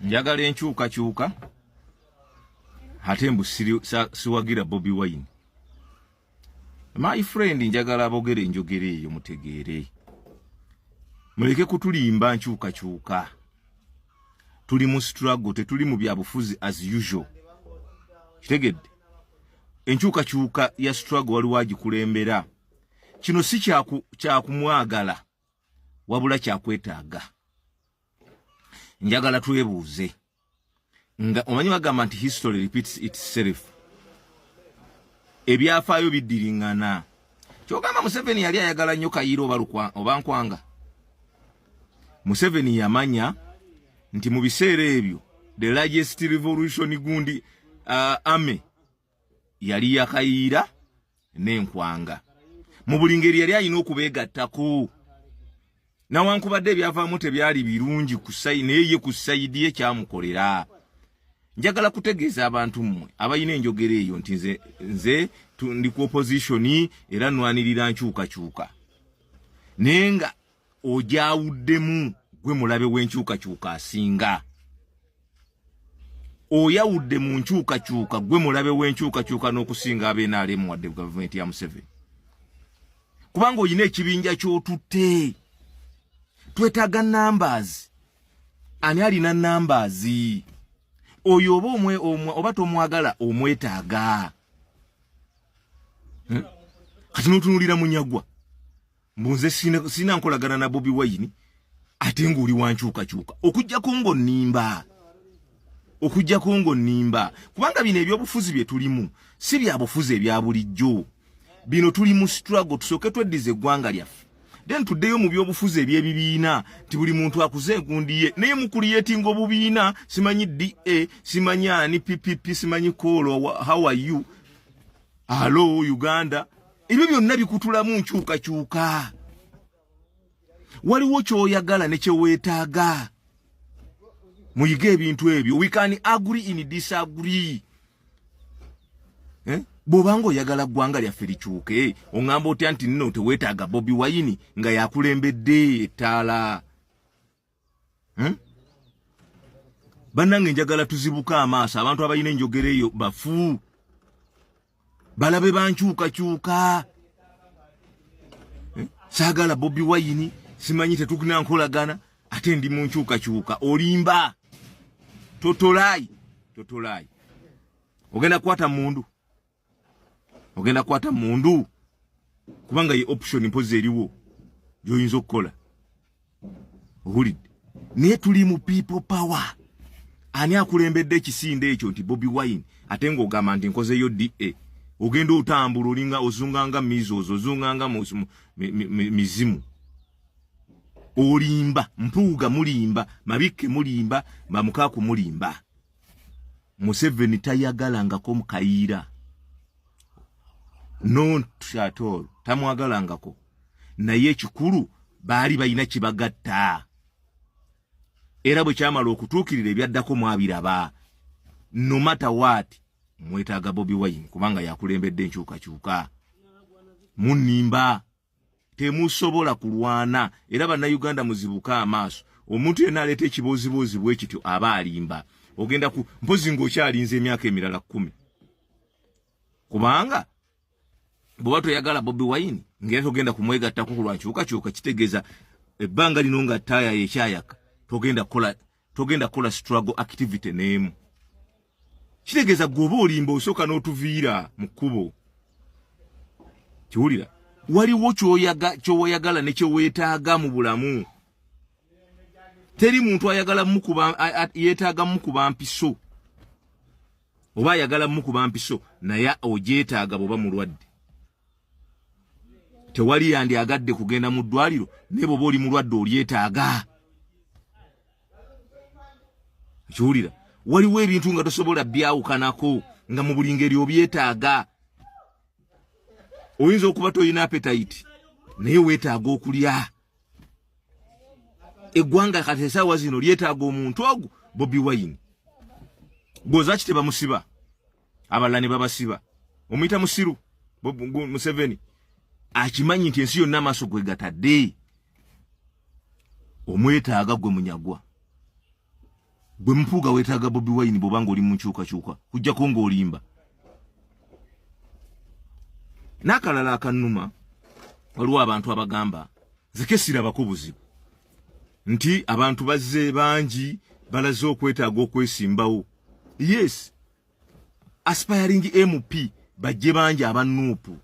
njagala enkyukakyuka ate mbu siwagira bobi wine my friend njagala abogere enjogera eyo mutegeere muleke kutulimba nkyukakyuka tuli mu struggle tetuli mu byabufuzi as usual kitegedde enkyukakyuka ya struggle waliwo agikulembera kino si kyakumwagala kya wabula kyakwetaaga njagala twebuuze nga omanyi bagamba nti history repeats itself ebyafaayo biddiringana kyogamba museveni yali ayagala nnyo kayiira oba nkwanga museveni yamanya nti mu biseera ebyo the largest revolution gundi uh, army yali yakayiira n'enkwanga mu buli ngeri yali alina okubeegattako nawankubadde ebyavaamu tebyali birungi naye ye ku sayidi ye kyamukolera njagala kutegeeza abantu mmwe abalina enjogera eyo nti nze, nze ndi ku opozitioni era nwanirira nkyukakyuka naye nga ogyawuddemu gwe mulabe w'enkyukakyuka asinga oyawudde mu nkyukakyuka gwe mulabe w'enkyukakyuka n'okusinga abenaalemu wadde gavumenti ya museveni kubanga olina ekibinja ky'otutte twetaaga numbers ani alina numbers oyo oba omwe oba tomwagala omwetaaga hmm? kati n'otunulira munyagwa mbu nze sirina nkolagana na bobi wayini ate ng'oli wankyukakyuka okujjako ng'onimba okujjako ng'onimba kubanga bino ebyobufuzi bye tulimu si bya bufuzi ebya bulijjo bino tuli mu struggle tusooke tweddiza eggwanga lyaffe then tuddeyo mu byobufuzi ebyebibiina nti buli muntu akuze engundiye naye mukuliyetinga obubiina simanyi da simanyi ani ppp simanyi koolo how are you alo uganda ebyo byonna bikutulamu nkyukakyuka waliwo kyoyagala nekyeweetaaga muyige ebintu ebyo we can agree in disagree eh? bwobanga oyagala ggwanga lyaffe likyuke oŋamba otya nti nno teweetaaga bobi wayini nga yakulembedde ettaala hmm? bannange njagala tuzibuka amaaso abantu abalina enjogera eyo bafu balabe bankyukakyuka hmm? saagala bobi wayini simanyi tetugina nkolagana ate ndi mu nkyukakyuka olimba totolayi totolayi ogenda kukwata mundu ogenda kwata mundu kubanga ye option mpozi eriwo gyoyinza okukola owulidde naye tuli mu people power ani akulembedde ekisinde ekyo nti bobi wine ate ngaogamba nti nkozeyo da ogenda otambula olinga ozunganga misos ozunganga mizimu olimba mpuuga mulimba mabikke mulimba bamukaku mulimba museveni tayagalangako mukayiira nontatol tamwagalangako naye ekikulu baali balina kibagatta era bwe kyamala okutuukirira ebyaddako mwabiraba nomata waati mwetaaga bobi wine kubanga yakulembedde enkyukakyuka munimba temusobola kulwana era bannayuganda muzibuke amaaso omuntu yena aleeta ekibooziboozi bwe kityo aba alimba ogenda ku mpozi ngaokyalinza emyaka emirala kumi kubanga bweoba toyagala bobi wayini ngaera togenda kumwegattako kulwankyukakyuka kitegeeza ebbanga lino nga taaya yekyayaka togenda kukola togenda kola struggle activity nemu kitegeza goba olimba osoka notuvira mukubo kiwulira waliwo kyoyaga kyoyagala ne kyowetaga mu bulamu teri muntu ayagala mukuba yetaga mukuba mpiso oba ayagala mukuba mpiso naye ojetaga boba mulwadde tewali yandi agadde kugenda mu ddwaliro naye bwoba oli mulwadde olyetaaga kiwulira waliwo ebintu nga tosobola byawukanako nga mu buli ngeri obyetaaga oyinza okuba tolina apetayiti naye weetaaga okulya eggwanga kati esaawa zino lyetaaga omuntu ogu bobi wayini gozaki tebamusiba abalala ne babasiba omuyita musiru museveni akimanyi nti ensi yonna amaaso gwe gatadde omwetaaga gwe munyagwa gwe mpuuga wetaaga bobi wayini bwoba nga oli mu nkyukakyuka kujjako ng'olimba n'akalala akannuma waliwo abantu abagamba zeke sirabako buzibu nti abantu bazze bangi balaze okwetaaga okwesimbawo yes aspiring mp bajje bangi abanuupu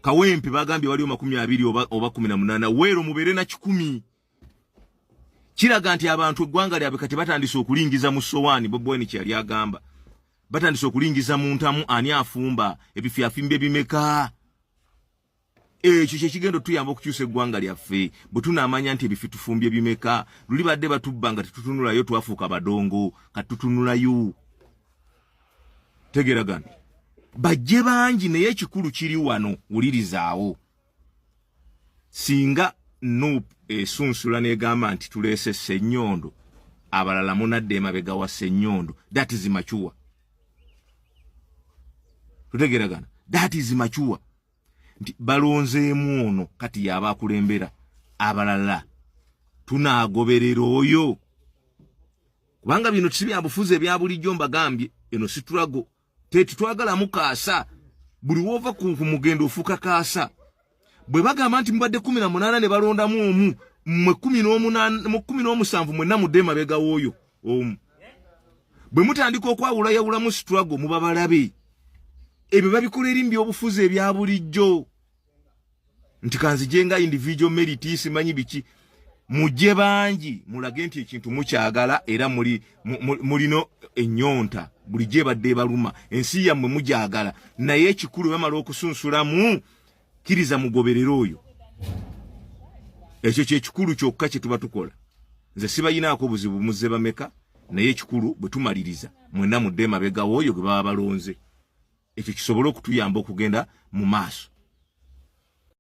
kawempe bagambye waliwo makumi abiri oba, oba kumi na munana weero mubeere na kikumi kiraga nti abantu eggwanga lyabwe kati batandise okulingiza mu sowaani bobweni kyeyali agamba batandise okulingiza mu ntamu ani afumba ebifyafimba ebimeka ekyo kyekigenda otuyamba okukyusa eggwanga lyaffe bwe tunaamanya nti ebifi tufumbye bimeka luli badde batubba nga tetutunulayo twafuuka badongo kati tutunulayo tegeragana bajje bangi naye ekikulu kiri wano wulirizaawo singa nup esunsula negamba nti tuleese sennyondo abalala munadde emabega wa sennyondo that is macuwa tutegeragana that is mature nti balonzeemu ono kati yaba akulembera abalala tunagoberera oyo kubanga bino si byabufuzi ebya bulijjo mbagambye eno situlago tetutwagalamu kaasa buli woova ku mugendo ofuuka kaasa bwe bagamba nti mubadde kumi na munaana ne balondamu omu mwe kumi n'omunmu n'omusanvu mwenna mudde emabega w'oyo omu bwe mutandika okwawulayawulamu situlago muba balabe ebyo babikola eri mbyobufuzi ebya bulijjo nti kanzije nga individual merit simanyi biki mujje bangi mulage nti ekintu mukyagala era muli mulino ennyonta bulijjo ebadde ebaluma ensi yammwe mugyagala naye ekikulu bamala okusunsulamu kiriza mugoberere oyo ekyo kyekikulu kyokka kyetuba tukola nze sibayinaako buzibu muze bameka naye ekikulu bwetumaliriza mwena mudde mabegawo oyo gwe baba balonze ekyo kisobole okutuyamba okugenda mu maaso